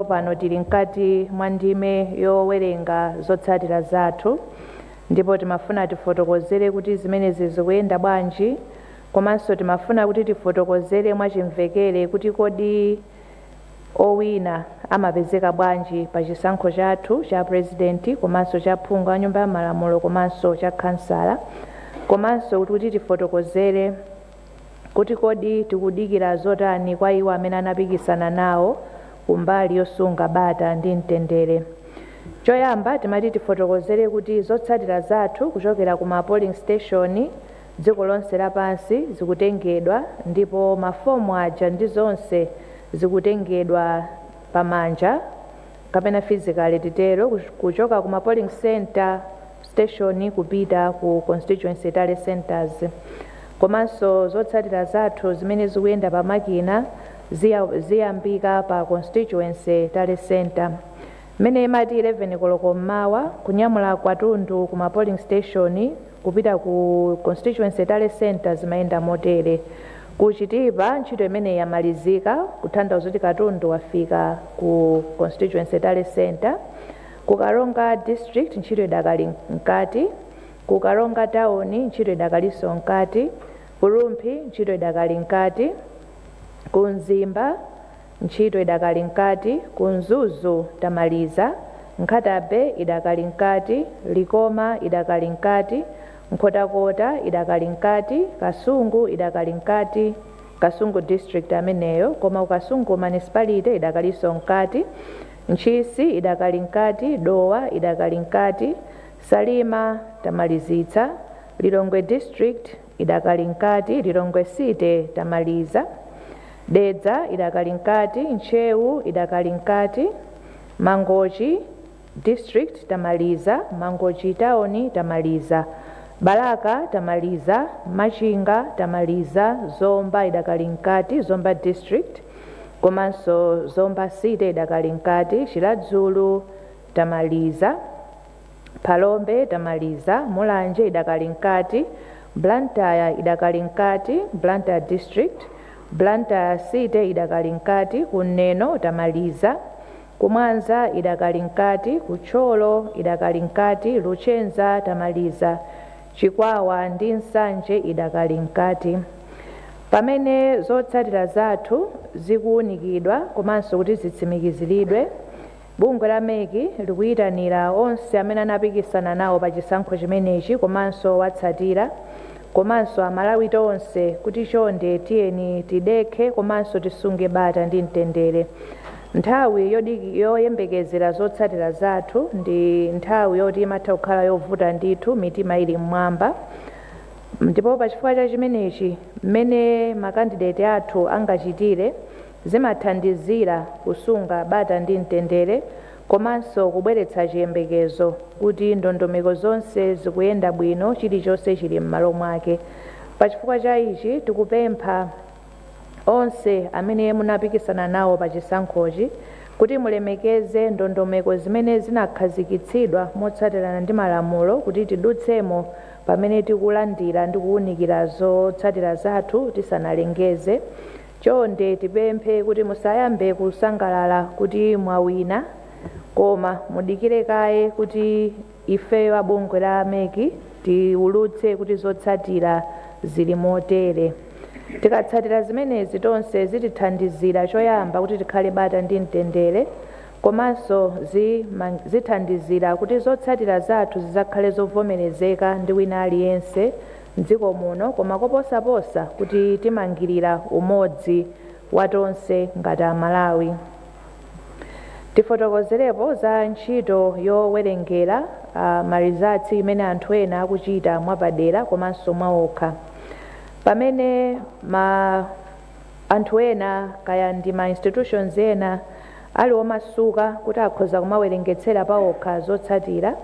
Tsopano tili mkati mwa ndime yowerenga zotsatira zathu ndipo timafuna tifotokozere kuti zimenezi zikuyenda bwanji komanso timafuna kuti tifotokozere mwachimvekere kuti kodi owina amapezeka bwanji pa chisankho chathu cha pulezidenti komanso cha phungu wa Nyumba ya Malamulo komanso cha khansala komanso kuti tifotokozere kuti kodi tikudikira zotani kwa iwo amene anapikisana nawo ku mbali yosunga bata ndi mtendere. Choyamba timati tifotokozere kuti zotsatira zathu kuchokera ku ma polling station dziko lonse lapansi zikutengedwa ndipo mafomu aja ndi zonse zikutengedwa pa manja. kapena physically titero, kuchoka ku ma polling centre, station, kupita ku constituency tally centres. Komanso zotsatira zathu zimene zikuyenda pa makina ziyambika pa constituency tally centre. Mmene imati 11 koloko mmawa, kunyamula katundu ku ma polling station, Kupita ku Constituency Tally Centre zimayenda motere, Ku Chitipa ntchito imeneyi yamalizika kutanthauza kuti katundu wafika ku Constituency Tally Centre. Ku Karonga District ntchito idakali mkati. Ku Karonga Town ntchito idakalinso mkati. Ku Rumphi ntchito idakali mkati. Ku Mzimba. Ntchito idakali mkati, ku Mzuzu tamaliza, Nkhata-Bay idakali mkati, Likoma idakali mkati, Nkhotakota idakali mkati, Kasungu idakali mkati, Kasungu District ameneyo, koma ku Kasungu Municipality idakalinso mkati, Ntchisi idakali mkati, Dowa idakali mkati, Salima tamalizitsa, Lilongwe District, idakali mkati, Lilongwe City tamaliza, Dedza idakali mkati, Ntcheu idakali mkati, Mangochi District tamaliza, Mangochi Town tamaliza, Balaka tamaliza, Machinga tamaliza, Zomba idakali mkati, Zomba District komanso Zomba City idakali mkati, Chiradzulu tamaliza. Phalombe tamaliza, Mulanje idakali mkati, Blantyre idakali mkati, Blantyre district, Blantyre city idakali mkati, ku Neno tamaliza, ku Mwanza idakali mkati, ku Thyolo idakali mkati, Luchenza tamaliza, Chikwawa ndi Nsanje idakali mkati. Pamene zotsatira zathu zikuunikidwa komanso kuti zitsimikiziridwe, Bungwe la MEC likuyitanira onse amene anapikisana nawo pa chisankho chimenechi komanso owatsatira komanso a Malawi tonse kuti chonde tiyeni tidekhe komanso tisunge bata ndi mtendere. Nthawi yoyembekezera zotsatira zathu ndi nthawi yoti imatha kukhala yovuta ndithu mitima ili m'mwamba ndipo pa chifukwa cha chimenechi mmene ma kandideti athu angachitire Zimathandizira kusunga bata ndi mtendere komanso kubweretsa chiyembekezo kuti ndondomeko zonse zikuyenda bwino, chilichonse chili m'malo mwake. Pachifukwa cha ichi, tikupempha onse amene munapikisana nawo pa chisankhochi kuti mulemekeze ndondomeko zimene zinakhazikitsidwa motsatirana ndi malamulo kuti tidutsemo pamene tikulandira ndi kuunikira zotsatira zathu tisanalengeze. Chonde tipemphe kuti musayambe kusangalala kuti mwawina koma mudikire kaye kuti ifeyo a bungwe la MEC tiwulutse kuti zotsatira zili motere. Tikatsatira zimenezi tonse zitithandizira choyamba kuti tikhale bata ndi mtendere komanso zithandizira kuti zotsatira zathu zizakhale zovomerezeka ndi wina aliyense m'dziko muno koma koposaposa kutimangirira umodzi wa tonse ngati a Malawi. Tifotokozerepo za ntchito yowerengera ma results imene anthu ena akuchita mwapadera komanso mwaokha. Pamene ma anthu ena kaya ndi ma institutions ena ali omasuka kuti akhoza kumawerengetsera paokha zotsatira,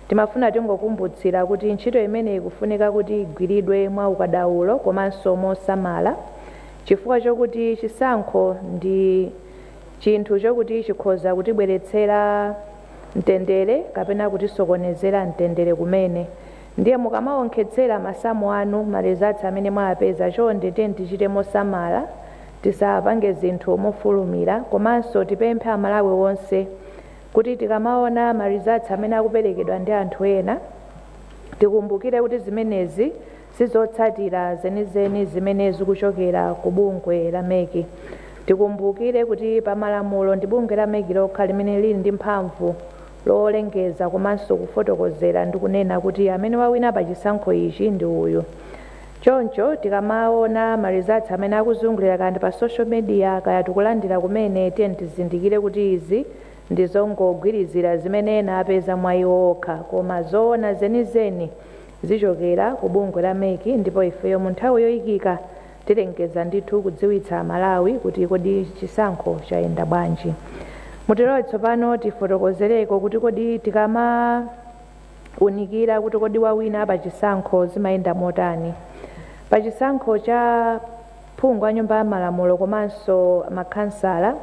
Timafuna tingokumbutsira kuti ntchito imeneyi ikufunika kuti igwiridwe mwa ukadaulo komanso mosamala chifukwa chokuti chisankho ndi chinthu chokuti chikhoza kutibweretsera mtendere kapena kutisokonezera mtendere kumene ndiye mukamawonkhetsera masamu anu ma results amene mwawapeza chonde tiyeni tichite mosamala tisapange zinthu mofulumira komanso tipemphe amalawi onse Kuti tikamaona ma results amene akuperekedwa ndi anthu ena, tikumbukire kuti zimenezi si zotsatira zenizeni zimene zikuchokera ku bungwe la MEC. Tikumbukire kuti pa malamulo ndi bungwe la MEC lokha limene lili ndi mphamvu lolengeza komanso kufotokozera ndi kunena kuti amene wawina pa chisankho ichi ndi uyu. Choncho tikamaona ma results amene akuzungulira kaya ndi pa social media kaya tikulandira kumene tiyeni tizindikire kuti izi ndi zongogwirizira zimene ena apeza mwa iwo okha koma zoona zenizeni zichokera ku bungwe la mec ndipo ifeyo mu nthawi yoyikika tilengeza ndithu kudziwitsa Amalawi kuti kodi chisankho chayenda bwanji. Mutilole tsopano tifotokozereko kuti kodi tikama. unikira kuti kodi wawina pa chisankho zimayenda motani. Pa chisankho cha phungu wa nyumba ya malamulo komanso makhansala,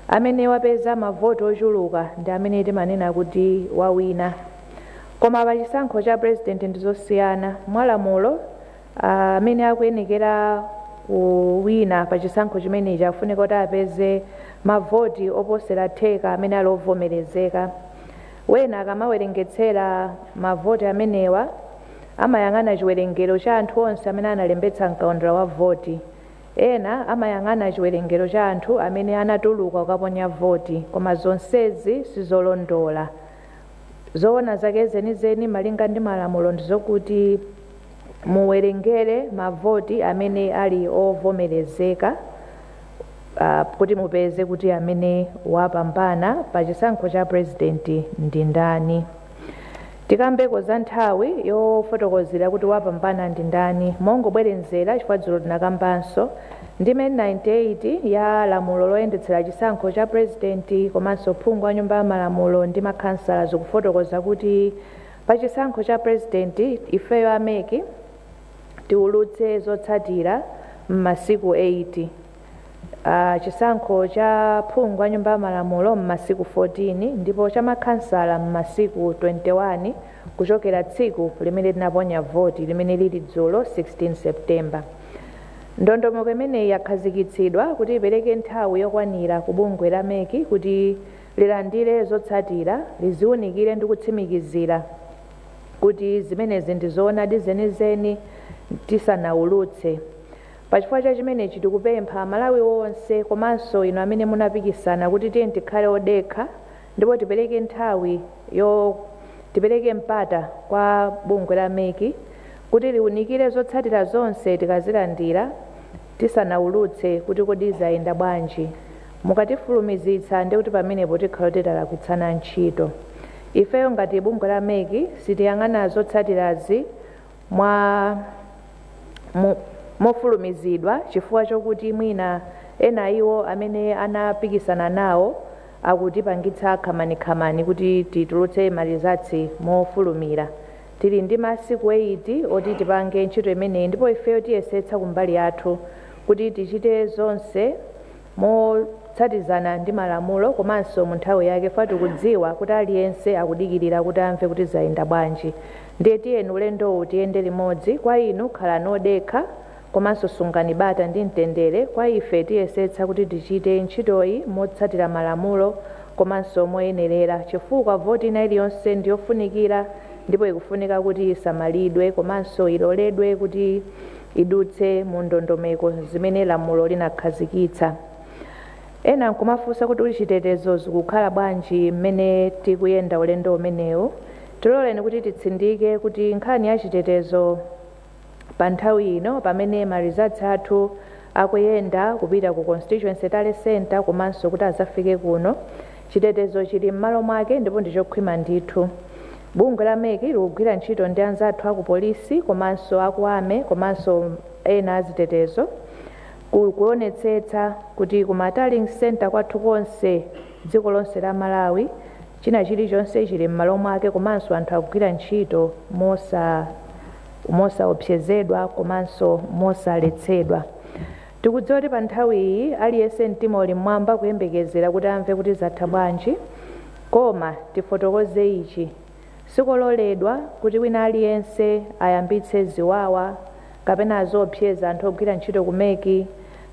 amene wapeza mavoti ochuluka ndi amene timanena kuti wawina. Koma pa chisankho cha president ndi zosiyana. Mwalamulo, ah, amene akuyenekera kuwina pa chisankho chimenechi afunika kuti apeze mavoti oposera theka amene ali ovomerezeka. Wena akamawerengetsera mavoti amenewa amayang'ana chiwerengero cha anthu onse amene analembetsa m'kaundula wa voti. Ena amayang'ana chiwerengero cha anthu amene anatuluka kukaponya voti, koma zonsezi si zolondola. Zoona zake zenizeni malinga ndi malamulo ndi zokuti. muwerengere mavoti amene ali ovomerezeka ah, kuti mupeze kuti amene wapambana pa chisankho cha president ndi ndani tikambeko za nthawi yofotokozera kuti wapambana ndi ndani mongobwerenzera chifukwa dzulo tinakambanso ndime 98 ya lamulo loyendetsera chisankho cha president komanso phungu wa nyumba ya malamulo ndi makhansala zikufotokoza kuti Pa chisankho cha president ifeyo a mec tiulutse zotsatira mmasiku 8, chisankho cha phungu wa nyumba ya malamulo mmasiku 14 ndipo cha makhansala mmasiku 21 kuchokera tsiku limene tinaponya voti limene lili dzulo 16 September. Ndondomeko imeneyi yakhazikitsidwa kuti ipereke nthawi yokwanira ku bungwe la mec kuti. lilandire zotsatira, liziunikire ndi kutsimikizira kuti zimenezi ndi zoonadi zenizeni tisanaulutse. Pa chifukwa cha chimenechi tikupempha Amalawi onse komanso inu amene munapikisana kuti tiyeni tikhale odekha ndipo tipereke nthawi yo tipereke mpata kwa bungwe la mec kuti liunikire zotsatira zonse tikazilandira tisanaulutse kuti kodi zayenda bwanji. Mukatifulumizitsa ndekuti pamenepo tikhala titalakwitsana ntchito. Ifeyo ngati bungwe la mec sitiyang'ana zotsatirazi mwa mu mofulumizidwa chifukwa chokuti mwina ena a iwo amene anapikisana nawo akutipangitsa khamanikhamani kuti titulutse ma results mofulumira. Tili ndi masiku 8 oti tipange ntchito imeneyi ndipo ifeyo tiyesetsa kumbali yathu kuti tichite zonse motsatizana ndi malamulo komanso mu nthawi yake chifukwa tikudziwa kuti aliyense akudikirira kuti amve kuti zayenda bwanji ndiye tiyeni ulendowu tiyende limodzi kwa inu khalani odekha komanso sungani bata ndi mtendere kwa ife tiyesetsa kuti tichite ntchitoyi motsatira malamulo komanso moyenerera chifukwa voti ina iliyonse ndi yofunikira ndipo ikufunika kuti isamalidwe komanso iloledwe kuti idutse mu ndondomeko zimene lamulo linakhazikitsa. Ena nkumafunsa kuti uli chitetezo zikukhala bwanji mmene tikuyenda ulendo umenewu. Tiloleni kuti titsindike kuti nkhani ya chitetezo pa nthawi ino pamene ma results athu akuyenda kupita ku constituency tally center komanso kuti azafike kuno, chitetezo chili mmalo mwake ndipo ndichokhwima ndithu. Bungwe la mec likugwira ntchito ndi anzathu aku polisi komanso aku army komanso ena azitetezo ku kuonetsetsa kuti ku ma tallying centre kwathu konse dziko lonse la Malawi china chili chonse chili mmalo mwake komanso anthu akugwira ntchito mosa mosaopsezedwa komanso mosaletsedwa. Tikudziwa kuti pa nthawi iyi aliyense mtima uli mmwamba kuyembekezera kuti amve kuti zatha bwanji. Koma tifotokoze ichi, sikololedwa kuti wina aliyense ayambitse ziwawa kapena aziopseza anthu ogwira ntchito ku mec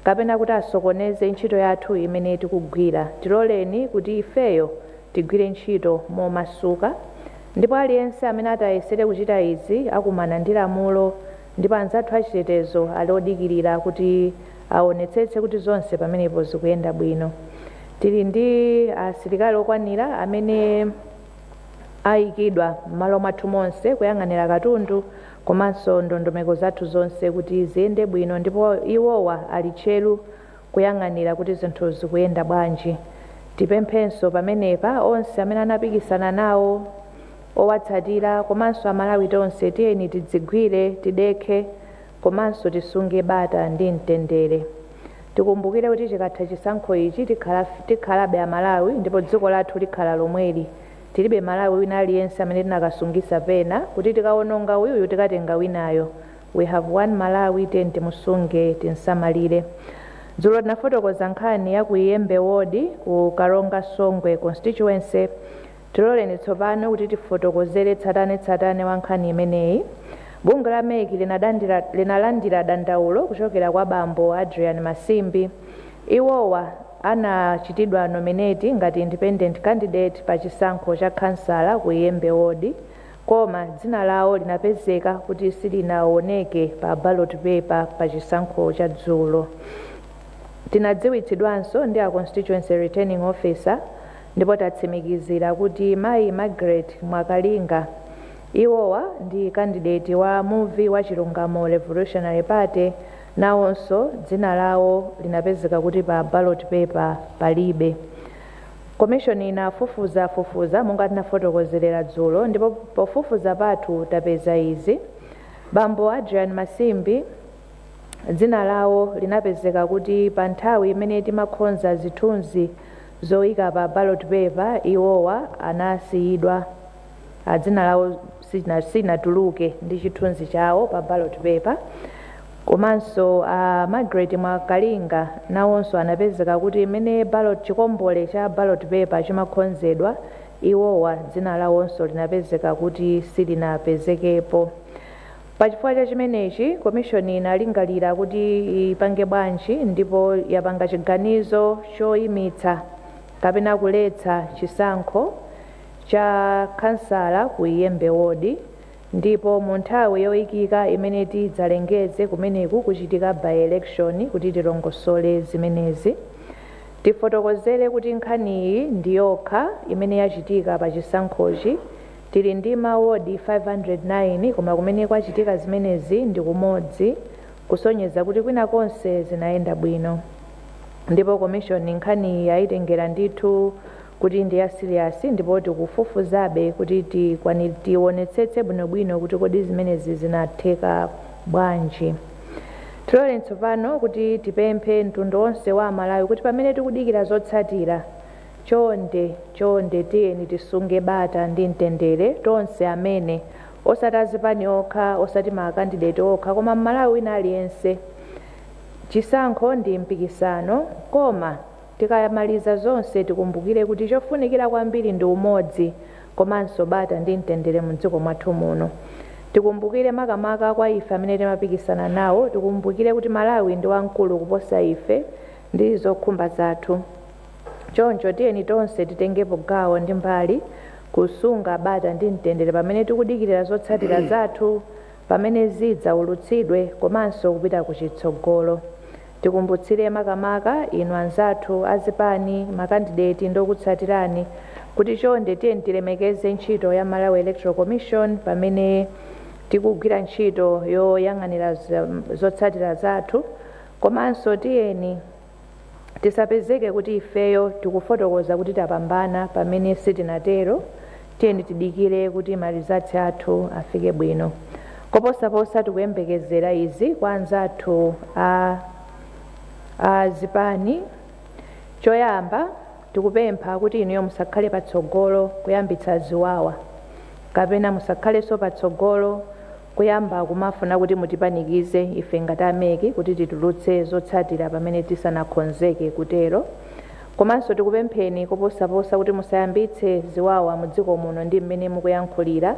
kapena kuti asokoneze ntchito yathu imene tikugwira. Tiloleni kuti ifeyo tigwire ntchito momasuka ndipo aliyense amene atayesere kuchita izi akumana ndi lamulo Ndipo anzathu achitetezo ali odikirira kuti awonetsetse kuti zonse pamenepo zikuyenda bwino. Tili ndi asilikali okwanira amene ayikidwa m'malo mwathu monse kuyang'anira katundu komanso ndondomeko zathu zonse kuti ziyende bwino ndipo iwowa ali tcheru kuyang'anira kuti zinthu zikuyenda bwanji. Tipemphenso pamenepa onse amene anapikisana nawo. owatsatira komanso amalawi tonse tiyeni tidzigwire, tidekhe komanso tisunge bata ndi mtendere. Tikumbukire kuti chikatha chisankho ichi tikhalabe amalawi ndipo dziko lathu likhala lomweli. Tilibe Malawi wina aliyense amene tinakasungisa pena kuti tikawononga uyuyu tikatenga winayo. We have one Malawi tiyeni timusunge, tinsamalire. Dzulo tinafotokoza nkhani ya ku Iyembe ward ku Karonga Songwe constituency. Tiloleni tsopano kuti tifotokozere tsatanetsatane wa nkhani imeneyi. Bungwe la MEC linalandira dandaulo kuchokera kwa bambo Adrian Masimbi. Iwowa anachitidwa nominate ngati independent candidate pa chisankho cha khansala ku Iyembe Ward koma dzina lawo linapezeka kuti silinawoneke pa ballot paper pa chisankho cha dzulo. Tinadziwitsidwanso ndi a Constituency Returning Officer, Ndipo tatsimikizira kuti mayi Margaret Mwakalinga, iwowa ndi kandideti wa Muvi wa Chilungamo Revolutionary Party, nawonso dzina lawo linapezeka kuti pa ballot paper palibe. Commission inafufuzafufuza monga tinafotokozerera dzulo ndipo pofufuza pathu tapeza izi, Bambo Adrian Masimbi dzina lawo linapezeka kuti pa nthawi imene timakhonza zithunzi zoika pa ballot paper iwowa anasiyidwa a dzina lawo sinatuluke ndi chithunzi chawo pa ballot paper komanso a Margaret Mwakalinga nawonso anapezeka kuti mmene chikombole cha ballot paper chimakhonzedwa iwowa dzina lawonso linapezeka kuti silinapezekepo Pa chifukwa cha chimenechi, Komishoni inalingalira kuti ipange bwanji ndipo yapanga chiganizo choimitsa kapena kuletsa chisankho cha Khansala ku Iyembe Ward ndipo mu nthawi yoikika imene tidzalengeze kumeneku kuchitika by-election kuti tilongosole zimenezi tifotokozere kuti nkhaniyi ndi yokha imene yachitika pa chisankhochi Tili ndi ma ward 509 koma kumene kwachitika zimenezi ndi kumodzi kusonyeza kuti kwina konse zinayenda bwino ndipo commission nkhaniyi yaitengera ndithu kuti ndi ya serious ndipo tikufufuzabe kuti tionetsetse bwinobwino kuti kodi zimenezi zinatheka bwanji. Tiloleni tsopano kuti tipemphe mtundu wonse wa Amalawi kuti pamene tikudikira zotsatira, Chonde, chonde tiyeni tisunge bata ndi mtendere, tonse amene, osati azipani okha, osati ma candidate okha, koma m'Malawi wina aliyense. Chisankho ndi mpikisano, koma tikamaliza zonse tikumbukire kuti chofunikira kwambiri ndi umodzi komanso bata ndi mtendere mu dziko mwathu muno. Tikumbukire makamaka kwa ife amene timapikisana nawo, tikumbukire kuti Malawi ndi wamkulu kuposa ife ndi zokhumba zathu. Choncho, tiyeni tonse titengepo gawo ndi mbali kusunga bata ndi mtendere pamene tikudikira zotsatira zathu pamene zidzaulutsidwe komanso kupita ku chitsogolo. Tikumbutsire makamaka inu anzathu a zipani, makandideti ndi okutsatirani kuti chonde tiyeni tilemekeze ntchito ya Malawi Electoral Commission pamene tikugwira ntchito yoyang'anira zotsatira zathu komanso tiyeni Tisapezeke kuti ifeyo tikufotokoza kuti tapambana pamene sitinatero, tiyeni tidikire kuti ma results athu afike bwino. Koposaposa tikuyembekezera izi kwa anzathu a a zipani, choyamba tikupempha kuti inuyo musakhale patsogolo kuyambitsa ziwawa kapena musakhalenso patsogolo Kuyamba kumafuna kuti mutipanikize ife ngati a MEC kuti titulutse zotsatira pamene tisanakhonzeke kutero. Komanso tikupempheni koposaposa kuti musayambitse ziwawa mu dziko muno ndi mmene mukuyankhulira.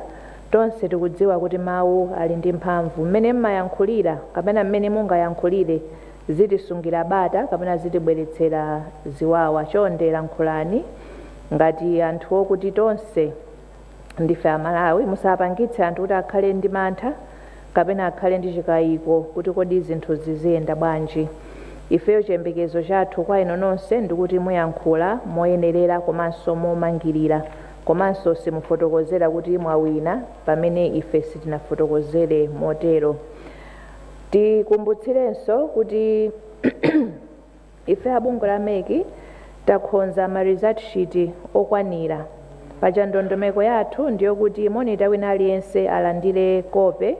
Tonse tikudziwa kuti mawu ali ndi mphamvu. Mmene mmayankhulira kapena mmene mungayankhulire zitisungira bata kapena zitibweretsera ziwawa. Chonde lankhulani ngati anthu okuti tonse. Ndife a Malawi, musapangitse anthu kuti akhale ndi mantha kapena akhale ndi chikayiko kuti kodi zinthu ziziyenda bwanji. Ifeyo chiyembekezo chathu kwa inu nonse ndikuti muyankhula moyenerera komanso momangirira komanso simufotokozera kuti mwawina pamene ife sitinafotokozere motero. Tikumbutsirenso kuti Ife a bungwe la MEC takhonza ma result sheet okwanira. Paja ndondomeko yathu ndiyokuti monitor wina aliyense alandire kope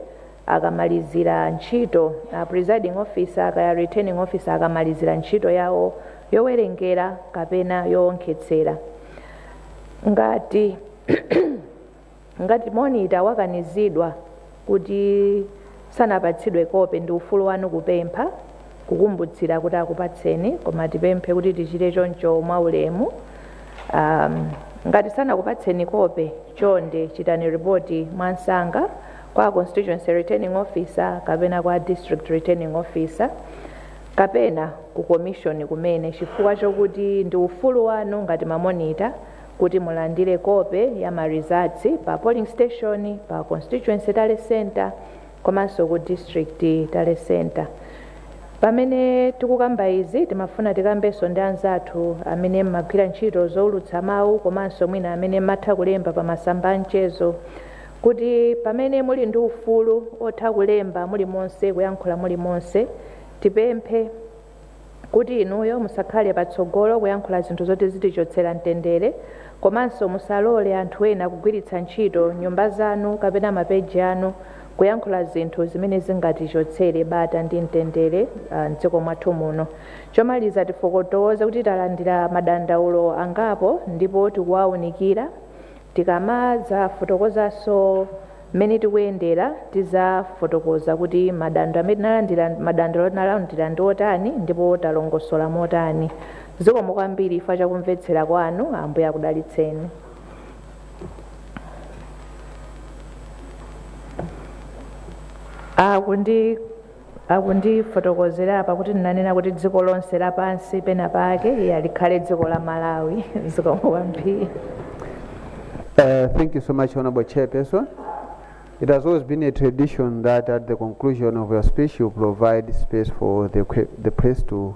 akamalizira ntchito a presiding officer kaya returning officer akamalizira ntchito yawo yowerengera kapena yoonkhetsera. Ngati. Ngati monitor wakanizidwa kuti sanapatsidwe kope ndi ufulu wanu kupempha kukumbutsira kuti akupatseni koma tipemphe kuti tichite choncho mwaulemu. Um, ngati sanakupatseni kope chonde chitani ripoti mwamsanga kwa constituency returning officer kapena kwa district returning officer kapena ku commission kumene chifukwa chokuti ndi ufulu wanu ngati mamonita Kuti mulandire kope ya ma results pa polling station, pa constituency tally centre komanso ku district tally centre. Pamene tikukamba izi timafuna tikambenso ndi anzathu amene mmagwira ntchito zoulutsa mawu komanso mwina amene mmatha kulemba pa masamba a mchezo kuti pamene muli ndi ufulu otha kulemba mulimonse, kuyankhula mulimonse, tipemphe. kuti inuyo musakhale patsogolo kuyankhula zinthu zoti zitichotsera mtendere komanso musalole anthu ena kugwiritsa ntchito nyumba zanu kapena mapeji anu kuyankhula zinthu zimene zingatichotsere bata ndi mtendere ah, m'dziko mwathu muno. Chomaliza tifotokoze kuti talandira madandaulo angapo ndipo tikuwaunikira. Tikamadzafotokozanso Mmene tikuyendera, tizafotokoza kuti madando amene madandaulo tinalandira ndi otani ndipo talongosola motani. Zikomo kwambiri chifukwa cha kumvetsera kwanu. Ambuye akudalitseni. Akundi Akundifotokozera apa kuti ndinanena kuti dziko lonse lapansi pena pake iya likhale dziko la Malawi zikomo kwambiri. Uh, thank you so much, Honorable Chairperson. It has always been a tradition that at the conclusion of your speech, you provide space for the, que- the press to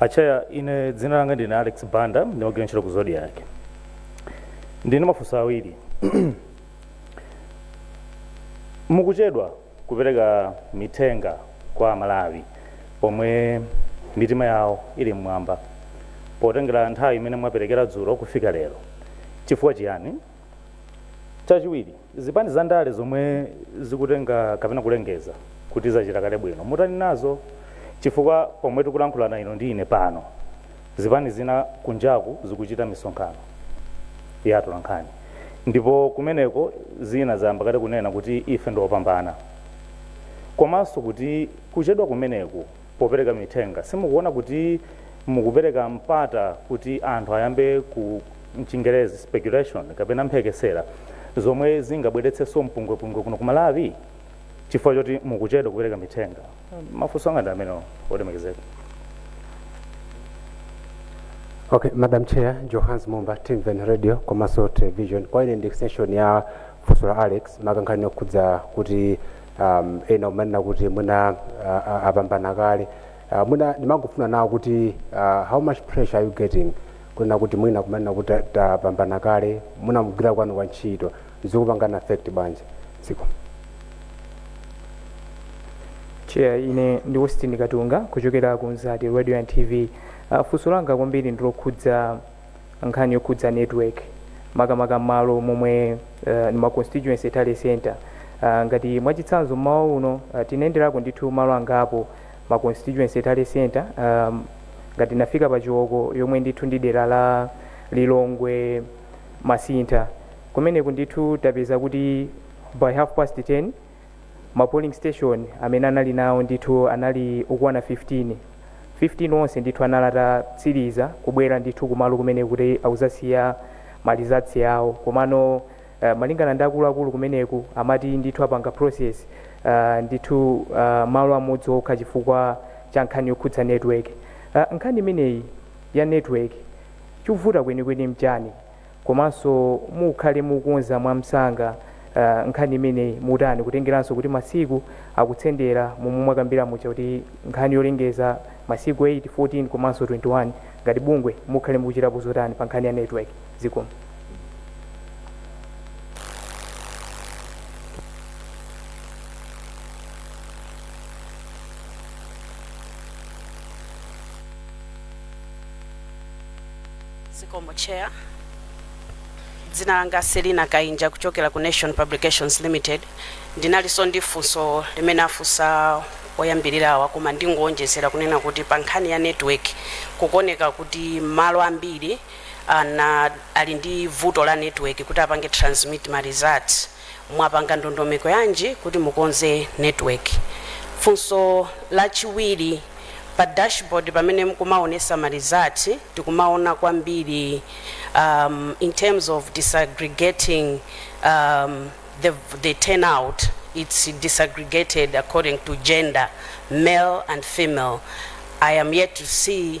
Achaya, ine dzina langa ndine Alex Banda, ndimagwira ntchito ku Zodiak. Ndili ndi mafunso awiri. Mukuchedwa kupereka mithenga kwa Amalawi pomwe mitima yawo ili mmwamba potengera nthawi imene mwaperekera dzulo kufika lero. Chifukwa chiyani? Chachiwiri, zipani za ndale zomwe zikutenga kapena kulengeza kuti zachita kale bwino, mutani nazo? Chifukwa pomwe tikulankhulana inu ndi ine pano, zipani zina kunjaku zikuchita misonkhano ya atolankhani ndipo kumeneko zina zayamba kale kunena kuti ife ndi opambana komanso kuti kuchedwa kumeneku popereka mithenga? Simukuona kuti mukupereka mpata kuti anthu ayambe ku, m'chingerezi, speculation kapena mphekesera zomwe zingabweretsenso mpungwepungwe kuno ku Malawi chifukwa choti mukuchedwa kupereka mithenga? Mafunso anga ndi amenewo, olemekezeka. Ok, Madam Chair, Johannes Mumba, Timveni Radio, komanso Television. Kwa ine ndi extension ya funso la Alex, maka nkhani yokhudza kuti um, ena kumanena kuti mwina uh, uh, apambana kale uh, mwina ndimangofuna kunena kuti uh, how much pressure are you getting kunena kuti mwina kumanena kuti ta- tapambana kale mwina mugwira kwanu kwa ntchito zikupangana affect bwanji zikomo chair ine ndi austin katunga kuchokera ku mzati radio and tv uh, funso langa kwambiri ndilokhudza nkhani yokhudza network makamaka malo momwe uh, ndi ma constituency tally center uh, ngati mwachitsanzo mmawa uno uh, tinayenderako ndithu malo angapo ma constituency tally center um, ngati tinafika pa chiwoko yomwe ndithu ndi dera la lilongwe masintha kumeneku ndithu tapeza kuti by half past 10 ma polling station amene anali nawo ndithu anali okwana 15, 15 onse ndithu anali atatsiliza kubwera ndithu kumalo kumeneku kuti adzasiye ma results awo komano malingana ndi akuluakulu kumeneku amati ndithu apanga process ndithu malo amodzi okha chifukwa cha nkhani yokhudza network. Nkhani imeneyi ya network chikuvuta kwenikweni nchani? komanso mukhale mukukonza mwamsanga uh, nkhani imeneyi mutani kutengeranso kuti masiku akutsendera momwe mwakambira muja kuti nkhani yolengeza masiku 8 14 komanso 21 ngati bungwe mukhale mukuchitapo zotani pa nkhani ya network zikomo Zikomo Chair. Dzina langa Selina Kainja kuchokera ku Nation Publications Limited. Ndinalinso ndi funso limene afunsa oyambirirawa koma ndingowonjezera kunena kuti pa nkhani ya network kukuoneka kuti malo ambiri ana ali ndi vuto la network kuti apange transmit ma results Mwapanga ndondomeko yanji kuti mukonze network? Funso la chiwiri, pa dashboard pamene mukumaonesa ma result tikumaona kwambiri um, in terms of disaggregating um, the, the turnout it's disaggregated according to gender male and female I am yet to see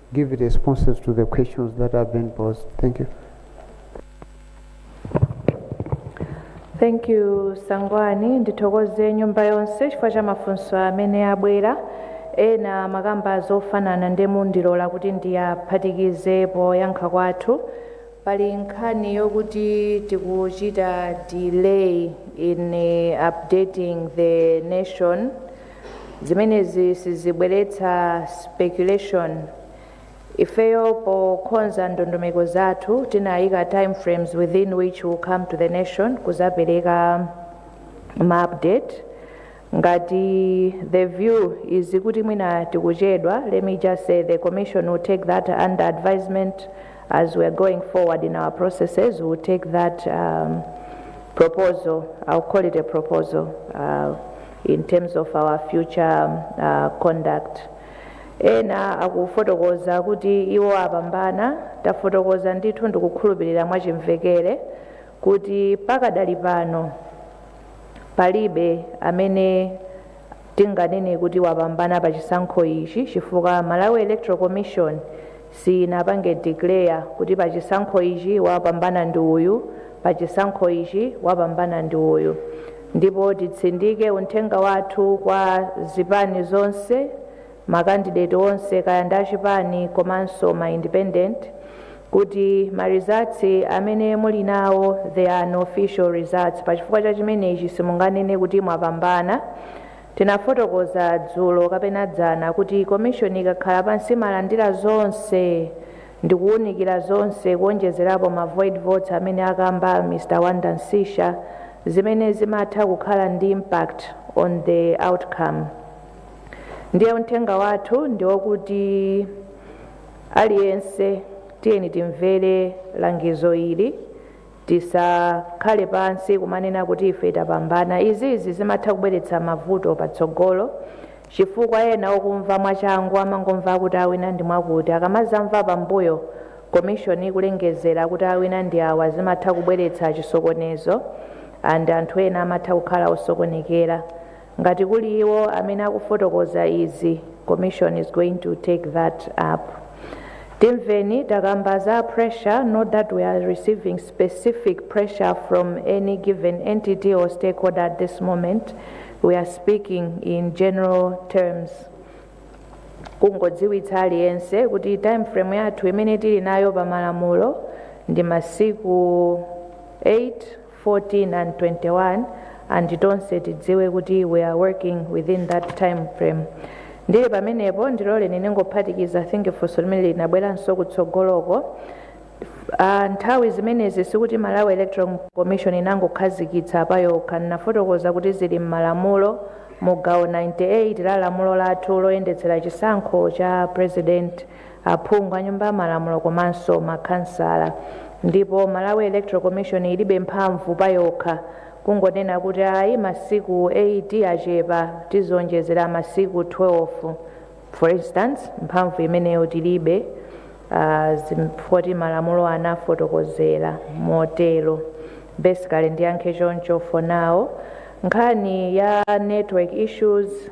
give responses to the questions that have been posed. Thank you. thank you sangwani ndithokoze nyumba yonse chifukwa cha mafunso amene abwera ena makamba zofanana ndiye mundilola kuti ndiyaphatikize poyankha kwathu pali nkhani yokuti tikuchita delay in eh, updating the nation zimenezi sizibweretsa speculation ifeyo pokonza ndondomeko zathu tinayika time frames within which will come to the nation kuzapereka ma update ngati the view is kuti mwina tikuchedwa let me just say the commission will take that under advisement as we are going forward in our processes we will take that um, proposal i'll call it a proposal uh, in terms of our future uh, conduct ena akufotokoza kuti iwo apambana tafotokoza ndithu ndikukhulupirira mwachimvekere kuti pakadali pano palibe amene tinganene kuti wapambana pa chisankho ichi chifukwa malawi electoral commission siyinapange declare kuti pachisankho ichi wapambana ndi uyu pachisankho ichi wapambana ndi uyu ndipo titsindike unthenga wathu kwa zipani zonse makandideti onse kaya ndi achipani komanso ma independent kuti ma results amene muli nawo they are unofficial results pachifukwa cha chimenechi simunganene kuti mwapambana Tinafotokoza dzulo kapena dzana kuti Commission ikakhala pansi imalandira zonse ndikuwunikira zonse kuwonjezerapo ma void votes amene akamba Mr Wanda Msisha zimene zimatha kukhala ndi impact on the outcome. Ndiye uthenga wathu ndiwokuti aliyense tiyeni timvere langizo ili. Tisakhale pansi kumanena kuti ife tapambana. Izizi zimatha kubweretsa mavuto patsogolo chifukwa ena okumva mwachangu amangomva kuti awina ndi mwakuti akamazamva pambuyo commission ikulengezera kuti awina ndi awa zimatha kubweretsa chisokonezo and anthu ena amatha kukhala osokonekera. Ngati kuli iwo amene akufotokoza izi, commission is going to take that up. Timveni takamba za pressure, not that we are receiving specific pressure from any given entity or stakeholder at this moment. We are speaking in general terms. kungodziwitsa aliyense kuti time frame yathu imene tili nayo pa malamulo ndi masiku 8 14 and 21 and tonse tidziwe kuti we are working within that time frame ndili pamenepo ndiloleni ndingophatikiza i think funso limene linabweranso kutsogoloko Ah, nthawi zimenezi sikuti malawi electoral commission inangokhazikitsa pa yokha ndinafotokoza kuti zili m'malamulo mu gawo 98 la lamulo lathu loyendetsera chisankho cha president aphungu a nyumba ya malamulo komanso ma khansala ndipo Malawi Electoral Commission ilibe mphamvu payokha kungonena kuti ayi masiku 8 achepa tizionjezera masiku 12 for instance mphamvu imeneyo tilibe ah, zim- poti malamulo anafotokozera motero basically ndiyankhe choncho for now nkhani ya network issues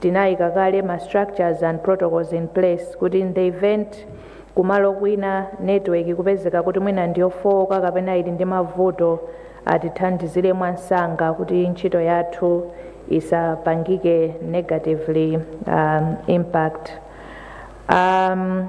Tinaika kale ma structures and protocols in place kuti in the event kumalo kwina network ikupezeka kuti mwina ndiyofooka kapena ili ndi mavuto atithandizire mwamsanga kuti ntchito yathu isapangike negatively um, impact um,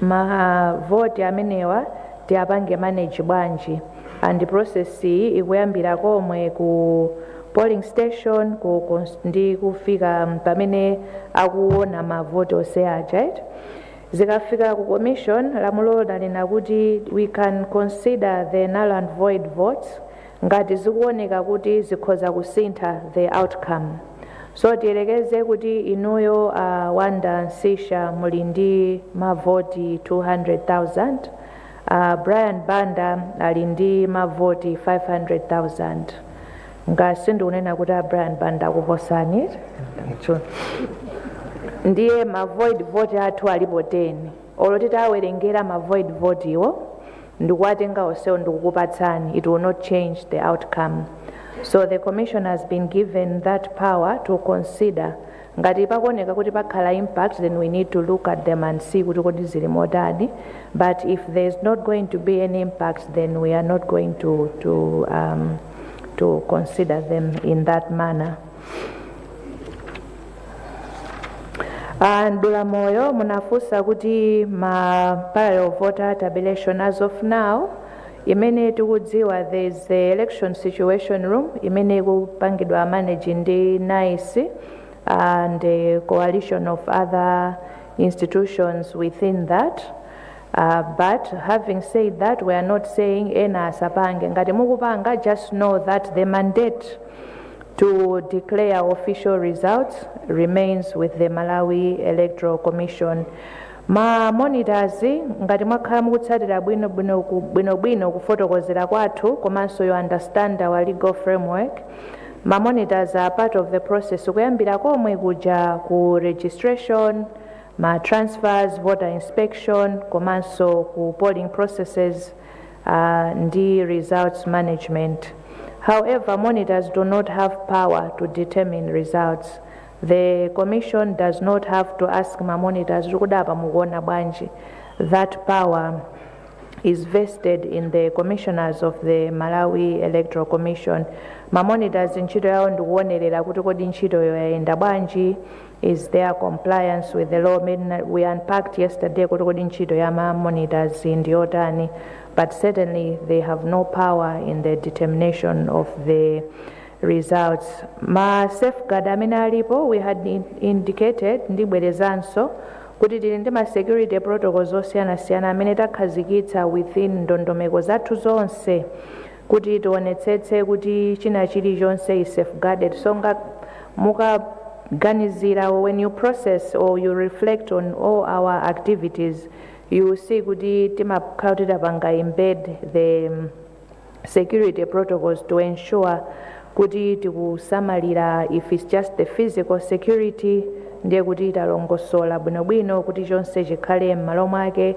ma vote amenewa tiwapange manage bwanji and process iyi ikuyambira komwe ku polling station ku, ku ndi kufika pamene akuona ma vote onse aja right? zikafika ku commission lamulo lanena kuti we can consider the null and void votes Ngati zikuoneka kuti zikhoza kusintha the outcome. So tiyerekeze kuti inuyo a Wonder Msiska muli ndi mavoti 200,000, a Brian Banda ali ndi mavoti 500,000. Ngakhale sindikunena kuti a Brian Banda akuposani. Ndiye ma void vote athu alipo 10. Olo titawerengera ma void vote wo ndikuwatenga onsewo ndikukupatsani it will not change the outcome so the commission has been given that power to consider ngati pakuoneka kuti pakhala impact then we need to look at them and see kuti kodi zili motani but if there is not going to be any impact then we are not going to, to, um, to consider them in that manner a Mdulamoyo munafunsa kuti ma parallel voter tabulation as of now imene tikudziwa there is the election situation room imene ikupangidwa manage ndi NICE and a coalition of other institutions within that Uh, but having said that we are not saying ena asapange ngati mukupanga just know that the mandate to declare official results remains with the malawi electoral commission ma monitors ngati mwakhala mukutsatira bwino bwino ku- bwino bwino kufotokozera kwathu komanso you understand our legal framework ma monitors are part of the process kuyambira komwe kuja ku registration ma transfers, voter inspection komanso ku polling processes uh, ndi results management. However, monitors do not have power to determine results. The commission does not have to ask ma monitors kuti apa mukuona bwanji. That power is vested in the commissioners of the Malawi Electoral Commission. Ma monitors ntchito yawo ndikuonerera kuti kodi ntchitoyo yayenda bwanji Is there compliance with the law we unpacked yesterday kuti kodi ntchito ya ma monitors ndi yotani but certainly they have no power in the determination of the results ma safeguard amene alipo we had in- indicated ndibwerezanso kuti tili ndi ma security protocols osiyanasiyana amene takhazikitsa within ndondomeko zathu zonse kuti tionetsetse kuti china chili chonse is safeguarded so mukaganizira when you process or you reflect on all our activities you will see kuti timakhala titapanga embed the um, security protocols to ensure kuti tikusamalira if it's just the physical security ndiye kuti talongosola bwinobwino kuti chonse chikhale m'malo mwake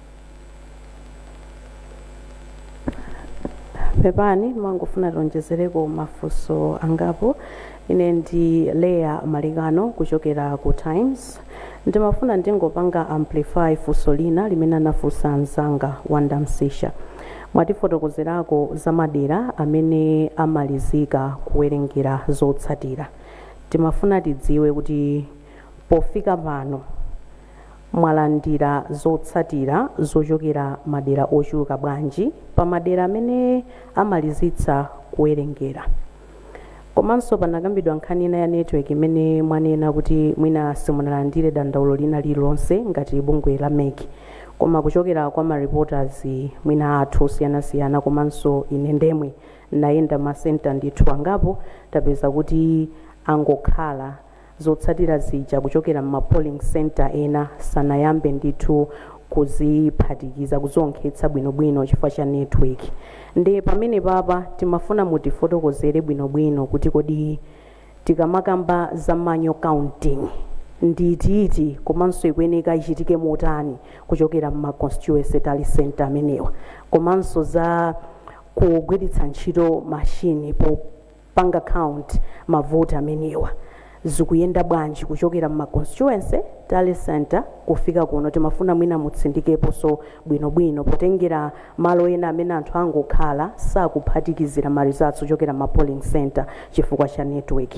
pepani ndimangofuna tionjezereko mafunso angapo ine ndi Leah Malekano kuchokera ku times ndimafuna ndingopanga amplify funso lina limene anafunsa mzanga wanda msisha mwatifotokozerako za madera amene amalizika kuwerengera zotsatira timafuna tidziwe kuti pofika pano Mwalandira zotsatira zochokera madera ochuluka bwanji pa madera amene amalizitsa kuwerengera? Komanso panakambidwa nkhani ina ya network imene mwanena kuti mwina simunalandire dandaulo lina lililonse ngati bungwe la mec koma kuchokera kwa ma reporters mwina athu osiyanasiyana komanso ine ndemwe ndayenda ma centre ndithu angapo tapeza kuti angokhala zotsatira zija kuchokera mma polling centre ena sanayambe ndithu kuziphatikiza kuzionkhetsa bwino bwino chifukwa cha network nde pamene papa timafuna mutifotokozere bwino bwino kuti kodi tikamakamba za manual counting ndi iti iti komanso ikuyeneka ichitike motani kuchokera mma constituency tally centre amenewa komanso za kugwiritsa ntchito machine po panga count mavoti amenewa zikuyenda bwanji kuchokera mma constituency, tally centre, kufika kuno timafuna mwina mutsindikeposo bwino bwino potengera malo ena amene anthu angokhala sakuphatikizira ma results ochokera mma polling centre chifukwa cha network.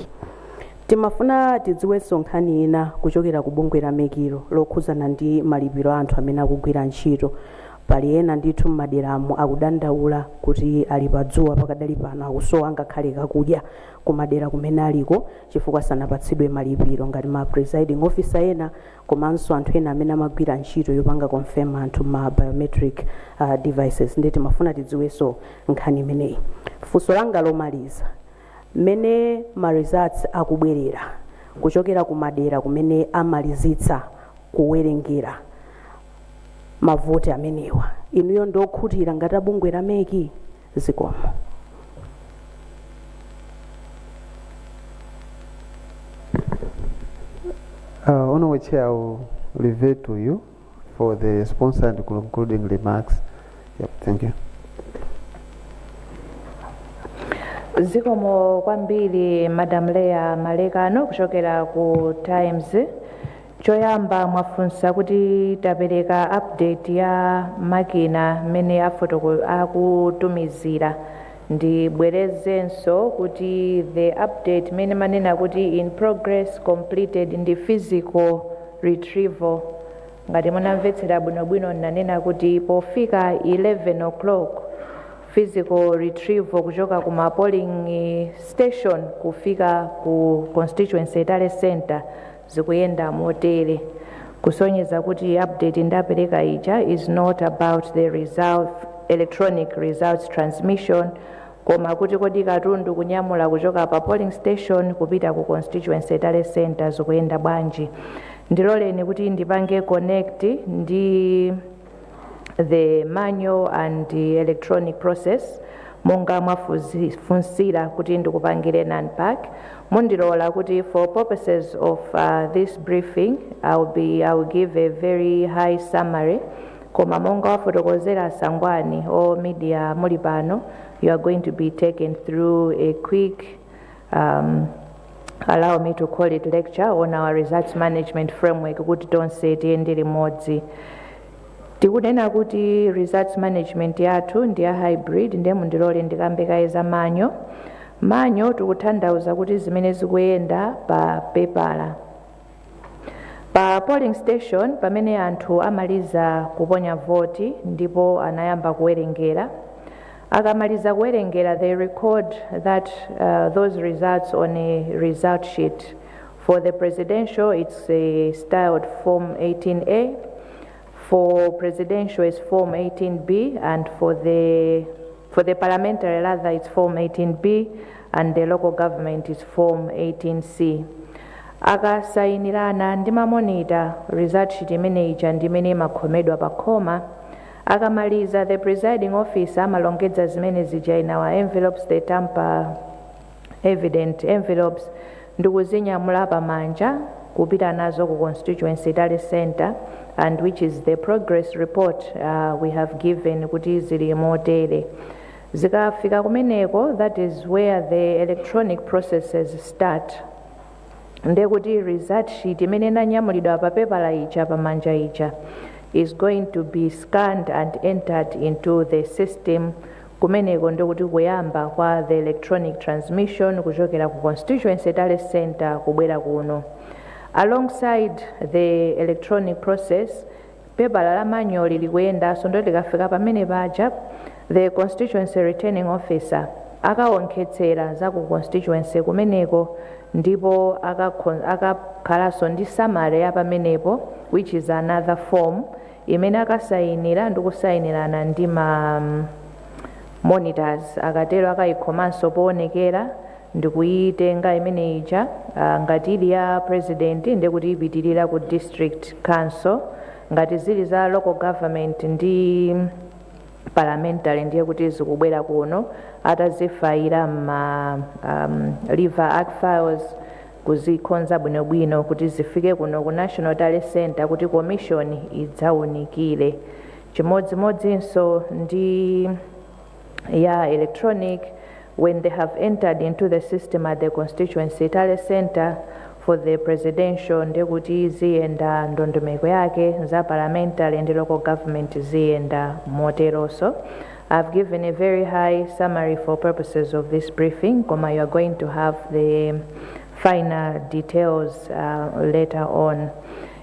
Timafuna tidziweso nkhani ina kuchokera ku bungwe la mec lo lokhuzana ndi malipiro a anthu amene akugwira ntchito Pali ena ndithu m'maderamo akudandaula kuti ali pa dzuwa pakadali pano akusowa ngakhale kakudya ku madera kumene aliko chifukwa sanapatsidwe malipiro ngati ma presiding officer ena komanso anthu ena amene amagwira ntchito yopanga confirm anthu ma biometric uh, devices ndiye timafuna tidziwenso nkhani imeneyi funso langa lomaliza mmene ma results akubwerera kuchokera ku madera kumene amalizitsa kuwerengera mavoti amenewa inuyo ndi okhutira ngati a bungwe la MEC zikomo Uh, Honorable Chair, I will revert to you for the response and concluding remarks. Yep, thank you. zikomo kwambiri madam leya malekano kuchokera ku times Choyamba mwafunsa kuti tapereka update ya makina mmene akutumizira ndibwerezenso kuti the update imene mmanena kuti in progress, completed ndi physical retrieval ngati munamvetsera bwinobwino ndinanena kuti pofika 11:00 physical retrieval kuchoka ku ma polling station kufika ku constituency tally centre zikuyenda motere kusonyeza kuti update ndapereka ija is not about the result, electronic results transmission koma kuti kodi katundu kunyamula kuchoka pa polling station kupita ku constituency tally center zikuyenda bwanji ndiloleni kuti ndipange connect ndi the manual and the electronic process monga mwafunsira kuti ndikupangire an unpack mundilola kuti for purposes of uh, this briefing I'll be, I'll give a very high summary koma monga wafotokozera a Sangwani a media muli pano you are going to be taken through a quick um, allow me to call it lecture on our results management framework kuti tonse tiyende limodzi tikunena kuti results management yathu ndi ya hybrid ndiye mundilole ndikambe kaye za manual manual tikutanthauza kuti zimene zikuyenda pa pepala Pa polling station pamene anthu amaliza kuponya voti ndipo anayamba kuwerengera. Akamaliza kuwerengera they record that uh, those results on a result sheet. For the presidential it's uh, styled form 18A. for presidential it's form 18b and for the for the parliamentary rather it's form 18b and the local government is form 18c akasayinirana ndi mamonita result sheet imene ija ndi imene imakhomedwa pa khoma akamaliza the presiding officer amalongedza zimene zija in our envelopes the tamper evident envelopes ndikuzinyamula pamanja kupita nazo ku constituency tally center and which is the progress report uh, we have given kuti zili motere zikafika kumeneko that is where the electronic processes start ndekuti result sheet imene inanyamulidwa pa pepala ija pamanja ija is going to be scanned and entered into the system Kumeneko ndiye kuti kuyamba kwa the electronic transmission kuchokera ku constituency tally centre kubwera kuno. Alongside the electronic process, pepala la manual lilikuyendanso ndiye likafika pamene paja the constituency returning officer akawonkhetsera za ku constituency kumeneko ndipo akakho- akakhalanso ndi summary ya pamenepo which is another form imene akasayinira ndi kusayinirana ndi ma monitors akatero akayikhomanso poonekera ndi kuyitenga imene ija ah, ngati ili ya president ndi kuti ipitirira ku district council ngati zili za local government ndi parliamentary ndiye kuti zikubwera kuno atazifayira ma um, lever arch files kuzikonza bwinobwino kuti zifike kuno ku National Tally Centre kuti komishoni idzaunikire. Chimodzimodzinso ndi ya electronic when they have entered into the system at the constituency tally centre for the presidential ndekuti ziyenda ndondomeko yake za parliamentary ndi local government ziyenda moteronso I've given a very high summary for purposes of this briefing, Koma, you are going to have the finer details uh, later on.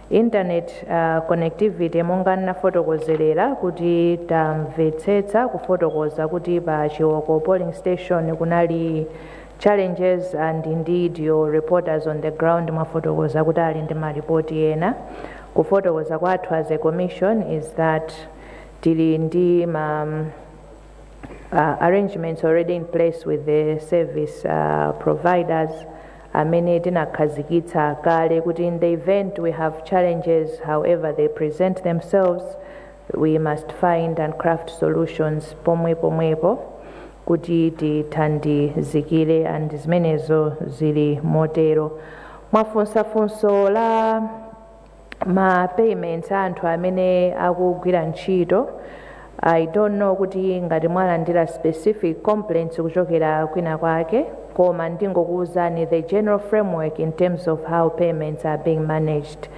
Internet uh, connectivity monga nafotokozelera kuti tamvetsetsa kufotokoza kuti pa Chiwoko polling station kunali challenges and indeed your reporters on the ground mwafotokoza kuti ali ndi maripoti ena kufotokoza kwathu as a commission is that tili ndi ma uh, arrangements already in place with the service uh, providers amene tinakhazikitsa kale kuti in the event we have challenges however they present themselves we must find and craft solutions pomwepo pomwepo kuti tithandizikire and zimenezo zili motero mwafunsa funso la ma payments a anthu amene akugwira ntchito I don't know kuti ngati mwalandira specific complaints kuchokera kwina kwake koma ndingokuwuzani the general framework in terms of how payments are being managed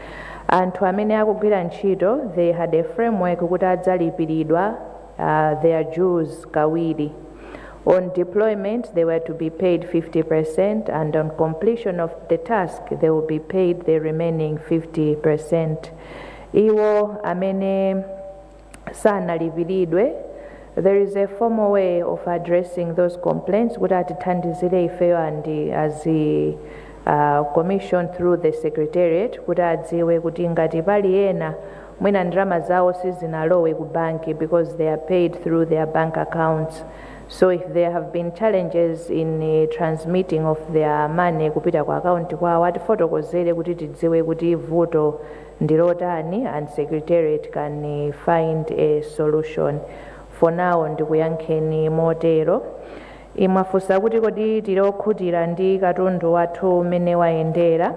anthu amene akugwira ntchito they had a framework kuti adzalipiridwa uh, their dues kawiri. On deployment, they were to be paid 50%, and on completion of the task, they will be paid the remaining 50%. Iwo amene sanalipiridwe there is a formal way of addressing those complaints kuti atithandizire ifeyo and as a uh, commission through the secretariat kuti adziwe kuti ngati pali ena mwina ndalama zawo sizinalowe ku banki because they are paid through their bank accounts so if there have been challenges in uh, transmitting of their money kupita ku akaunti kwawo atifotokozere kuti tidziwe kuti vuto ndilotani and secretariat can uh, find a solution for now ndikuyankheni motero inu mwafunsa kuti kodi tili okhutira ndi katundu wathu mmene wayendera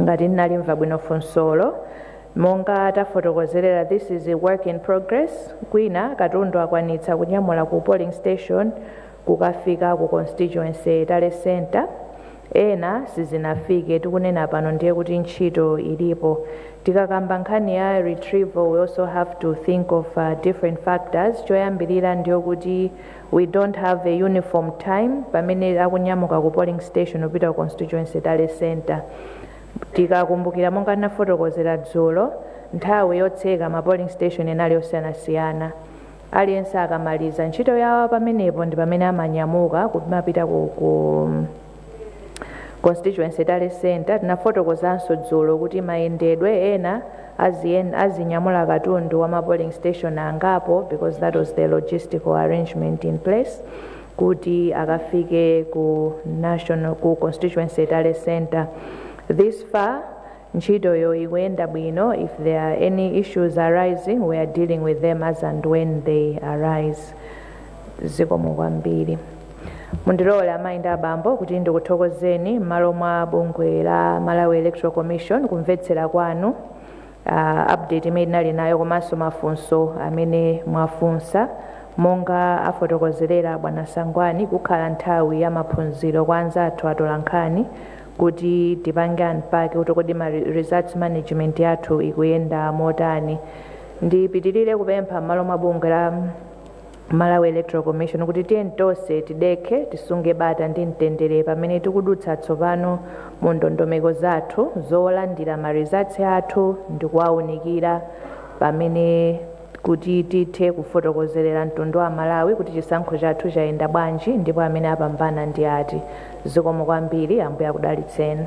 ngati ndinalimva bwino funsolo monga tafotokozerera this is a work in progress kwina katundu akwanitsa kunyamula ku polling station kukafika ku constituency tally center ena sizinafike tikunena pano ndiye kuti ntchito ilipo tikakamba nkhani ya retrieval we also have to think of uh, different factors choyambirira ndiyo kuti We don't have a uniform time pamene akunyamuka ku polling station kupita ku constituency tally centre. Tikakumbukira monga ndinafotokozera dzulo, nthawi yotseka ma polling station inali yosiyanasiyana. Aliyense akamaliza ntchito yawo pamenepo ndi pamene amanyamuka kumapita ku, ku constituency tally center tinafotokozanso dzulo kuti mayendedwe ena aziyen- azinyamula katundu wa ma polling station angapo because that was the logistical arrangement in place kuti akafike ku national ku constituency tally center this far Ntchitoyo ikuyenda bwino, if there are any issues arising we are dealing with them as and when they arise. Zikomo kwambiri. Mundilole amayi ndi abambo kuti ndikuthokozeni m'malo mwa bungwe la Malawi Electoral Commission kumvetsera kwanu uh, update imene ndinali nayo komanso mafunso amene mwafunsa monga afotokozerera bwana Sangwani kukhale nthawi ya maphunziro kwa anzathu atolankhani kuti tipange unpack kuti kodi ma re- results management yathu ikuyenda motani ndipitirire kupempha m'malo mwa bungwe la malawi electoral commission kuti tiyeni tonse tidekhe tisunge bata ndi mtendere pamene tikudutsa tsopano mu ndondomeko zathu zolandira ma results athu ndi kuwaunikira pamene kuti tithe kufotokozerera mtundu wa amalawi kuti chisankho chathu chayenda bwanji ndipo amene apambana ndi ati. Zikomo kwambiri. Ambuye akudalitseni.